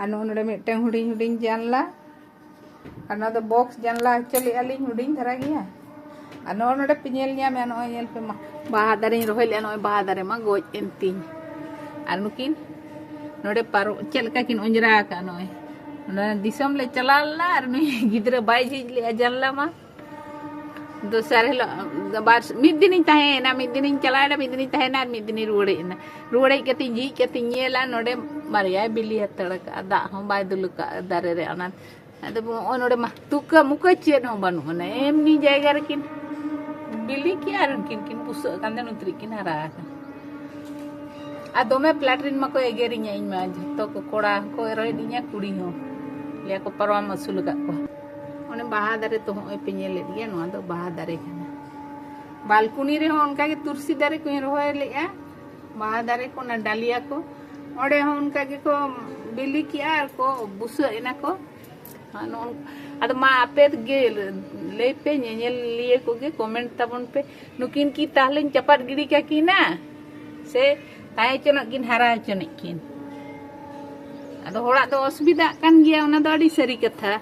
ᱟᱨ ᱱᱚᱜᱼᱚ ᱱᱚᱰᱮ ᱢᱤᱫᱴᱟᱝ ᱦᱩᱰᱤᱧ ᱦᱩᱰᱤᱧ ᱡᱟᱱᱞᱟ ᱟᱨ ᱱᱚᱣᱟ ᱫᱚ ᱵᱚᱠᱥ ᱡᱟᱱᱞᱟ ᱦᱚᱪᱚ ᱞᱮᱫᱼᱟ ᱞᱤᱧ ᱦᱩᱰᱤᱧ ᱫᱷᱟᱨᱟ ᱜᱮᱭᱟ ᱟᱨ ᱱᱚᱜᱼᱚ ᱱᱚᱰᱮ ᱯᱮ ᱧᱮᱞ ᱧᱟᱢᱮᱜᱼᱟ ᱱᱚᱜᱼᱚᱭ ᱧᱮᱞ ᱯᱮ ᱢᱟ ᱵᱟᱦᱟ ᱫᱟᱨᱮᱧ ᱨᱚᱦᱚᱭ ᱞᱮᱫᱼᱟ ᱱᱚᱜᱼᱚᱭ ᱵᱟᱦᱟ ᱫᱟᱨᱮ ᱢᱟ ᱜᱚᱡ ᱮᱱ ᱛᱤᱧ ᱟᱨ ᱱᱩᱠᱤᱱ ᱱᱚᱰᱮ ᱯᱟᱨᱚ ᱪᱮᱫ ᱞᱮᱠᱟ ᱠᱤᱱ ᱚᱸᱡᱽᱨᱟ ᱟᱠᱟᱫᱼᱟ ᱱᱚᱜᱼᱚᱭ ᱚᱱᱟ ᱫᱤᱥᱚᱢ ᱞᱮ ᱪᱟᱞᱟᱣ ᱞᱮᱱᱟ ᱟᱨ ᱱᱩᱭ ᱜᱤᱫᱽᱨᱟᱹ ᱵᱟᱭ ᱡᱷᱤᱡ ᱞᱮᱫᱼᱟ ᱡᱟᱱᱞᱟ ᱢᱟ ᱫᱚᱥᱟᱨ ᱦᱤᱞᱳᱜ ᱵᱟᱨ ᱢᱤᱫ ᱫᱤᱱᱤᱧ ᱛᱟᱦᱮᱸᱭᱮᱱᱟ ᱢᱤᱫ ᱫᱤᱱᱤᱧ ᱪᱟᱞᱟᱣᱮᱱᱟ ᱢᱤᱫ ᱫᱤᱱᱤᱧ ᱛᱟᱦᱮᱸᱭᱮᱱᱟ ᱟᱨ ᱢᱤᱫ ᱫᱤᱱᱤᱧ ᱨᱩᱣᱟᱹᱲ ᱦᱮᱡ ᱮᱱᱟ ᱨᱩᱣᱟᱹᱲ ᱦᱮᱡ ᱠᱟᱛᱮᱧ ᱡᱷᱤᱡ ᱠᱟᱛᱮᱧ ᱧᱮᱞᱟ ᱱᱚᱰᱮ ᱵᱟᱨᱭᱟᱭ ᱵᱤᱞᱤ ᱦᱟᱛᱟᱲ ᱠᱟᱜᱼᱟ ᱫᱟᱜ ᱦᱚᱸ ᱵᱟᱭ ᱫᱩᱞ ᱠᱟᱜᱼᱟ ᱫᱟᱨᱮ ᱨᱮ ᱚᱱᱟ ᱟᱫᱚ ᱱᱚᱜᱼᱚᱭ ᱱᱚᱰᱮ ᱢᱟ ᱛᱩᱠᱟᱹ ᱢᱩᱠᱟᱹ ᱪᱮᱫ ᱦᱚᱸ ᱵᱟᱹᱱᱩᱜ ᱟᱱᱟ ᱮᱢᱱᱤ ᱡᱟᱭᱜᱟ ᱨᱮᱠᱤᱱ ᱵᱤᱞᱤ ᱠᱮᱜᱼᱟ ᱟᱨ ᱩᱱᱠᱤᱱ ᱠᱤᱱ ᱵᱩᱥᱟᱹᱜ ᱠᱟᱱ ᱛᱟᱦᱮᱸ ᱱᱩᱛᱨᱤ ᱠᱤᱱ ᱦᱟᱨᱟ ᱟᱠᱟᱱᱟ ᱟᱨ ᱫᱚᱢᱮ ᱯᱞᱟᱴᱨᱤᱱ ᱢᱟᱠᱚ ᱮᱜᱮᱨᱤᱧᱟ ᱤᱧ ᱢᱟ ᱡᱷᱚᱛᱚ ᱠᱚ ᱠᱚᱲᱟ ᱦᱚᱸᱠᱚ ᱨᱚᱦᱮᱫᱤᱧᱟ ᱠᱩᱲᱤ ᱦᱚᱸ ᱞᱟᱹᱭᱟᱠᱚ ᱯᱟᱨᱣᱟᱢ ᱟᱹᱥᱩᱞ ᱟᱠᱟᱫ ᱠᱚᱣᱟ ᱚᱱᱮ ᱵᱟᱦᱟ ᱫᱟᱨᱮ ᱛᱚ ᱦᱚᱸᱜᱼᱚᱭ ᱯᱮ ᱧᱮᱞᱮᱫ ᱜᱮᱭᱟ ᱱᱚᱣᱟ ᱫᱚ ᱵᱟᱦᱟ ᱫᱟᱨᱮ ᱠᱟᱱᱟ ᱵᱟᱞᱠᱩᱱᱤ ᱨᱮᱦᱚᱸ ᱚᱱᱠᱟᱜᱮ ᱛᱩᱨᱥᱤ ᱫᱟᱨᱮ ᱠᱚᱧ ᱨᱚᱦᱚᱭ ᱞᱮᱫᱼᱟ ᱵᱟᱦᱟ ᱫᱟᱨᱮ ᱠᱚ ᱚᱱᱟ ᱰᱟᱞᱤᱭᱟ ᱠᱚ ᱚᱸᱰᱮ ᱦᱚᱸ ᱚᱱᱠᱟ ᱜᱮᱠᱚ ᱵᱤᱞᱤ ᱠᱮᱜᱼᱟ ᱟᱨ ᱠᱚ ᱵᱩᱥᱟᱹᱜ ᱮᱱᱟ ᱠᱚ ᱟᱫᱚ ᱢᱟ ᱟᱯᱮ ᱜᱮ ᱞᱟᱹᱭ ᱯᱮ ᱧᱮᱧᱮᱞᱤᱭᱟᱹ ᱠᱚᱜᱮ ᱠᱚᱢᱮᱱᱴ ᱛᱟᱵᱚᱱ ᱯᱮ ᱱᱩᱠᱤᱱ ᱠᱤ ᱛᱟᱦᱞᱮᱧ ᱪᱟᱯᱟᱫ ᱜᱤᱰᱤ ᱠᱟᱠᱤᱱᱟ ᱥᱮ ᱛᱟᱦᱮᱸ ᱦᱚᱪᱚᱱᱚᱜ ᱠᱤᱱ ᱦᱟᱨᱟ ᱦᱚᱪᱚᱱᱤᱡ ᱠᱤᱱ ᱟᱫᱚ ᱦᱚᱲᱟᱜ ᱫᱚ ᱚᱥᱩᱵᱤᱫᱷᱟᱜ ᱠᱟᱱ ᱜᱮᱭᱟ ᱚᱱᱟ ᱫᱚ ᱟᱹᱰᱤ ᱥᱟᱹᱨᱤ ᱠᱟᱛᱷᱟ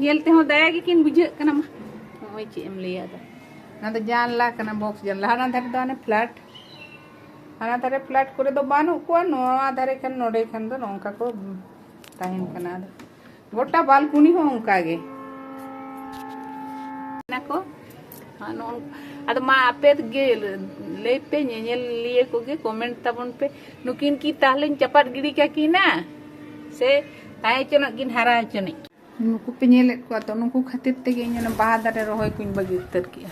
ᱧᱮᱞ ᱛᱮᱦᱚᱸ ᱫᱟᱭᱟ ᱜᱮᱠᱤᱱ ᱵᱩᱡᱷᱟᱹᱜ ᱠᱟᱱᱟ ᱢᱟ ᱱᱚᱜᱼᱚᱭ ᱪᱮᱫ ᱮᱢ ᱞᱟᱹᱭᱟ ᱫᱚ ᱚᱱᱟ ᱫᱚ ᱡᱟᱱᱞᱟ ᱠᱟᱱᱟ ᱵᱚᱠᱥ ᱡᱟᱱᱞᱟ ᱦᱟᱱᱟ ᱫᱷᱟᱨᱮ ᱫᱚ ᱦᱟᱱᱮ ᱯᱷᱞᱟᱴ ᱦᱟᱱᱟ ᱫᱷᱟᱨᱮ ᱯᱷᱞᱟᱴ ᱠᱚᱨᱮ ᱫᱚ ᱵᱟᱹᱱᱩᱜ ᱠᱚᱣᱟ ᱱᱚᱣᱟ ᱫᱷᱟᱨᱮ ᱠᱷᱟᱱ ᱱᱚᱰᱮ ᱠᱷᱟᱱ ᱫᱚ ᱱᱚᱝᱠᱟ ᱠᱚ ᱛᱟᱦᱮᱱ ᱠᱟᱱᱟ ᱟᱫᱚ ᱜᱚᱴᱟ ᱵᱟᱞᱠᱩᱱᱤ ᱦᱚᱸ ᱚᱱᱠᱟ ᱜᱮ ᱱᱟᱠᱚ ᱟᱫᱚ ᱢᱟ ᱟᱯᱮ ᱜᱮ ᱞᱟᱹᱭ ᱯᱮ ᱧᱮᱧᱮᱞᱤᱭᱟᱹ ᱠᱚᱜᱮ ᱠᱚᱢᱮᱱᱴ ᱛᱟᱵᱚᱱ ᱯᱮ ᱱᱩᱠᱤᱱ ᱠᱤ ᱛᱟᱦᱞᱮᱧ ᱪᱟᱯᱟᱫ ᱜᱤᱰᱤ ᱠᱟᱠᱤᱱᱟ ᱥᱮ ᱛᱟᱦᱮᱸ ᱦᱚᱪᱚᱱᱚᱜ ᱠᱤᱱ ᱦᱟᱨᱟ ᱦᱚᱪᱚᱱᱤᱡ ᱱᱩᱠᱩ ᱯᱮ ᱧᱮᱞᱮᱫ ᱠᱚᱣᱟ ᱛᱚ ᱱᱩᱠᱩ ᱠᱷᱟᱹᱛᱤᱨ ᱛᱮᱜᱮ ᱤᱧ ᱚᱱᱟ ᱵᱟᱦᱟ ᱫᱟᱨᱮ ᱨᱚᱦᱚᱭ ᱠᱚᱧ ᱵᱟᱹᱜᱤ ᱩᱛᱟᱹᱨ ᱠᱮᱜᱼᱟ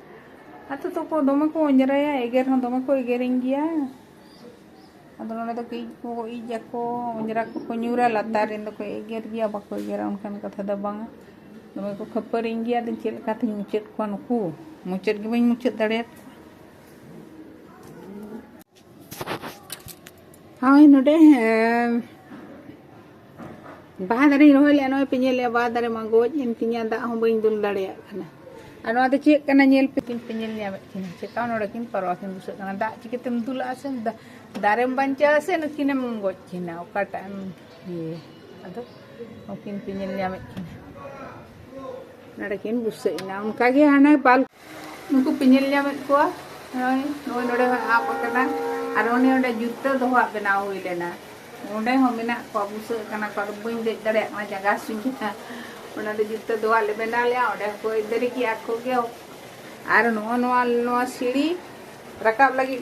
ᱟᱛᱳ ᱛᱚᱠᱚ ᱫᱚᱢᱮ ᱠᱚ ᱚᱸᱡᱽᱨᱟᱭᱟ ᱮᱜᱮᱨ ᱦᱚᱸ ᱫᱚᱢᱮ ᱠᱚ ᱮᱜᱮᱨᱤᱧ ᱜᱮᱭᱟ ᱟᱫᱚ ᱱᱚᱰᱮ ᱫᱚ ᱤᱡ ᱠᱚ ᱤᱡ ᱟᱠᱚ ᱚᱸᱡᱽᱨᱟ ᱠᱚᱠᱚ ᱧᱩᱨᱟ ᱞᱟᱛᱟᱨ ᱨᱮᱱ ᱫᱚᱠᱚ ᱮᱜᱮᱨ ᱜᱮᱭᱟ ᱵᱟᱠᱚ ᱮᱜᱮᱨᱟ ᱚᱱᱠᱟᱱ ᱠᱟᱛᱷᱟ ᱫᱚ ᱵᱟᱝᱟ ᱫᱚᱢᱮ ᱠᱚ ᱠᱷᱟᱹᱯᱟᱹᱨᱤᱧ ᱜᱮᱭᱟ ᱟᱫᱚ ᱪᱮᱫ ᱞᱮᱠᱟᱛᱤᱧ ᱢᱩᱪᱟᱹᱫ ᱠᱚᱣᱟ ᱱᱩᱠᱩ ᱢᱩᱪᱟᱹᱫ ᱜᱮ ᱵᱟᱹᱧ ᱢᱩᱪᱟᱹᱫ ᱫᱟᱲᱮᱭᱟᱠᱚᱣᱟ ᱦᱳᱭ ᱱᱚᱰᱮ ᱵᱟᱦᱟ ᱫᱟᱨᱮᱧ ᱨᱚᱦᱚᱭ ᱞᱮᱜᱼᱟ ᱱᱚᱜᱼᱚᱭ ᱯᱮ ᱧᱮᱞᱮᱜᱼᱟ ᱵᱟᱦᱟ ᱫᱟᱨᱮ ᱢᱟ ᱜᱚᱡ ᱮᱱ ᱛᱤᱧᱟ ᱫᱟᱜ ᱦᱚᱸ ᱵᱟᱹᱧ ᱫᱩᱞ ᱫᱟᱲᱮᱭᱟᱜ ᱠᱟᱱᱟ ᱟᱨ ᱱᱚᱣᱟ ᱫᱚ ᱪᱮᱫ ᱠᱟᱱᱟ ᱧᱮᱞ ᱯᱮ ᱠᱤᱱ ᱯᱮ ᱧᱮᱞ ᱧᱟᱢᱮᱫ ᱠᱤᱱᱟ ᱪᱮᱠᱟ ᱱᱚᱰᱮ ᱠᱤᱱ ᱯᱟᱨᱣᱟ ᱠᱤᱱ ᱵᱩᱥᱟᱹᱜ ᱠᱟᱱᱟ ᱫᱟᱜ ᱪᱤᱠᱟᱹᱛᱮᱢ ᱫᱩᱞᱟᱜᱼᱟ ᱥᱮ ᱫᱟᱨᱮᱢ ᱵᱟᱧᱪᱟᱣᱟ ᱥᱮ ᱱᱩᱠᱤᱱᱮᱢ ᱜᱚᱡ ᱠᱤᱱᱟ ᱚᱠᱟᱴᱟᱜ ᱮᱢ ᱤᱭᱟᱹ ᱟᱫᱚ ᱱᱩᱠᱤᱱ ᱯᱮ ᱧᱮᱞ ᱧᱟᱢᱮᱫ ᱠᱤᱱᱟ ᱱᱚᱰᱮ ᱠᱤᱱ ᱵᱩᱥᱟᱹᱜ ᱮᱱᱟ ᱚᱱᱠᱟᱜᱮ ᱦᱟᱱᱮ ᱵᱟᱞ ᱱᱩᱠᱩ ᱯᱮ ᱧᱮᱞ ᱧᱟᱢᱮᱫ ᱠᱚᱣᱟ ᱱᱚᱜᱼᱚᱭ ᱱᱩᱭ ᱱᱚᱰᱮ ᱦᱚᱸᱭ ᱟᱵ ᱟᱠᱟᱱᱟ ᱟᱨ ᱚᱱᱮ ᱚᱸᱰᱮ ᱡᱩᱛᱟᱹ ᱫᱚᱦᱚᱣᱟᱜ ᱵᱮᱱᱟᱣ ᱦᱩᱭ ᱞᱮᱱᱟ ᱚᱸᱰᱮ ᱦᱚᱸ ᱢᱮᱱᱟᱜ ᱠᱚᱣᱟ ᱵᱩᱥᱟᱹᱜ ᱠᱟᱱᱟ ᱠᱚ ᱟᱫᱚ ᱵᱟᱹᱧ ᱫᱮᱡ ᱫᱟᱲᱮᱭᱟᱜ ᱠᱟᱱᱟ ᱡᱟᱸᱜᱟ ᱦᱟᱹᱥᱩᱧ ᱠᱟᱱᱟ ᱚᱱᱟ ᱫᱚ ᱡᱩᱛᱟᱹ ᱫᱚᱦᱚᱣᱟᱜ ᱞᱮ ᱵᱮᱱᱟᱣ ᱞᱮᱜᱼᱟ ᱚᱸᱰᱮ ᱦᱚᱸᱠᱚ ᱫᱟᱨᱮ ᱠᱮᱜᱼᱟ ᱟᱠᱚ ᱜᱮ ᱟᱨ ᱱᱚᱜᱼᱚ ᱱᱚᱣᱟ ᱱᱚᱣᱟ ᱥᱤᱲᱤ ᱨᱟᱠᱟᱵ ᱞᱟᱹᱜᱤᱫ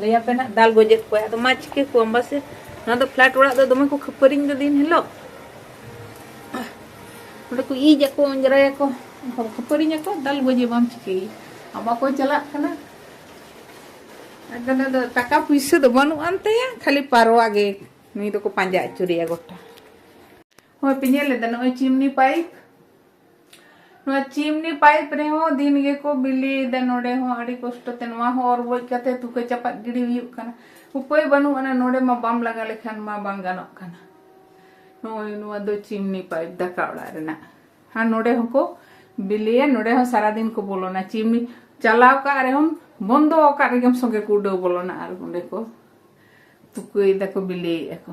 ᱞᱟᱹᱭ ᱟᱯᱮ ᱱᱟᱜ ᱫᱟᱞ ᱜᱚᱡᱮᱫ ᱠᱚᱣᱟ ᱟᱫᱚ ᱢᱟ ᱪᱤᱠᱟᱹ ᱠᱚᱣᱟᱢ ᱵᱟᱥᱮ ᱱᱚᱣᱟ ᱫᱚ ᱯᱷᱞᱟᱴ ᱚᱲᱟᱜ ᱫᱚ ᱫᱚᱢᱮ ᱠᱚ ᱠᱷᱟᱹᱯᱟᱹᱨᱤᱧ ᱫᱚ ᱫᱤᱱ ᱦᱤᱞᱳᱜ ᱚᱸᱰᱮ ᱠᱚ ᱤᱡ ᱟᱠᱚ ᱚᱸᱡᱽᱨᱟᱭᱟᱠᱚ ᱠᱷᱟᱹᱯᱟᱹᱨᱤᱧ ᱟᱠᱚ ᱫᱟᱞ ᱜᱚᱡᱮ ᱵᱟᱢ ᱪᱤᱠᱟᱹᱭ ᱟᱢ ᱵᱟᱠᱚ ᱪᱟᱞᱟᱜ ᱠᱟᱱᱟ ᱟᱫᱚ ᱫᱚ ᱴᱟᱠᱟ ᱯᱩᱭᱥᱟᱹ ᱫᱚ ᱵᱟᱹᱱᱩᱜ ᱟᱱ ᱛᱟᱭᱟ ᱠᱷᱟᱹᱞᱤ ᱯᱟᱨᱣᱟ ᱜᱮ ᱱᱩᱭ ᱫᱚᱠᱚ ᱯᱟᱸᱡᱟ ᱟᱹᱪᱩᱨᱮᱭᱟ ᱜᱚᱴᱟ ᱦᱳᱭ ᱯᱮ ᱧᱮᱞ ᱞᱮᱫᱟ ᱱᱚᱜᱼᱚᱭ ᱪᱤᱢᱱᱤ ᱯᱟᱭᱤᱯ ᱱᱚᱣᱟ ᱪᱤᱢᱱᱤ ᱯᱟᱭᱤᱯ ᱨᱮᱦᱚᱸ ᱫᱤᱱ ᱜᱮᱠᱚ ᱵᱤᱞᱤᱭᱮᱫᱟ ᱱᱚᱰᱮ ᱦᱚᱸ ᱟᱹᱰᱤ ᱠᱚᱥᱴᱚ ᱛᱮ ᱱᱚᱣᱟ ᱦᱚᱸ ᱚᱨ ᱵᱚᱡ ᱠᱟᱛᱮ ᱛᱩᱠᱟᱹ ᱪᱟᱯᱟᱫ ᱜᱤᱰᱤ ᱦᱩᱭᱩᱜ ᱠᱟᱱᱟ ᱩᱯᱟᱹᱭ ᱵᱟᱹᱱᱩᱜ ᱟᱱᱟ ᱱᱚᱰᱮ ᱢᱟ ᱵᱟᱢ ᱞᱟᱜᱟ ᱞᱮᱠᱷᱟᱱ ᱢᱟ ᱵᱟᱝ ᱜᱟᱱᱚᱜ ᱠᱟᱱᱟ ᱱᱚᱜᱼᱚᱭ ᱱᱚᱣᱟ ᱫᱚ ᱪᱤᱢᱱᱤ ᱯᱟᱭᱤᱯ ᱫᱟᱠᱟ ᱚᱲᱟᱜ ᱨᱮᱱᱟᱜ ᱟᱨ ᱱᱚᱰᱮ ᱦᱚᱸᱠᱚ ᱵᱤᱞᱤᱭᱟ ᱱᱚᱰᱮ ᱦᱚᱸ ᱥᱟᱨᱟᱫᱤᱱ ᱠᱚ ᱵᱚᱞᱚᱱᱟ ᱪᱤᱢᱱᱤ ᱪᱟᱞᱟᱣ ᱠᱟᱜ ᱨᱮᱦᱚᱸ ᱵᱚᱱᱫᱚ ᱟᱠᱟᱫ ᱨᱮᱜᱮᱢ ᱥᱚᱸᱜᱮ ᱠᱚ ᱩᱰᱟᱹᱣ ᱵᱚᱞᱚᱱᱟ ᱟᱨ ᱚᱸᱰᱮ ᱠᱚ ᱛᱩᱠᱟᱹᱭ ᱫᱟᱠᱚ ᱵᱤᱞᱤᱭᱮᱫ ᱟᱠᱚ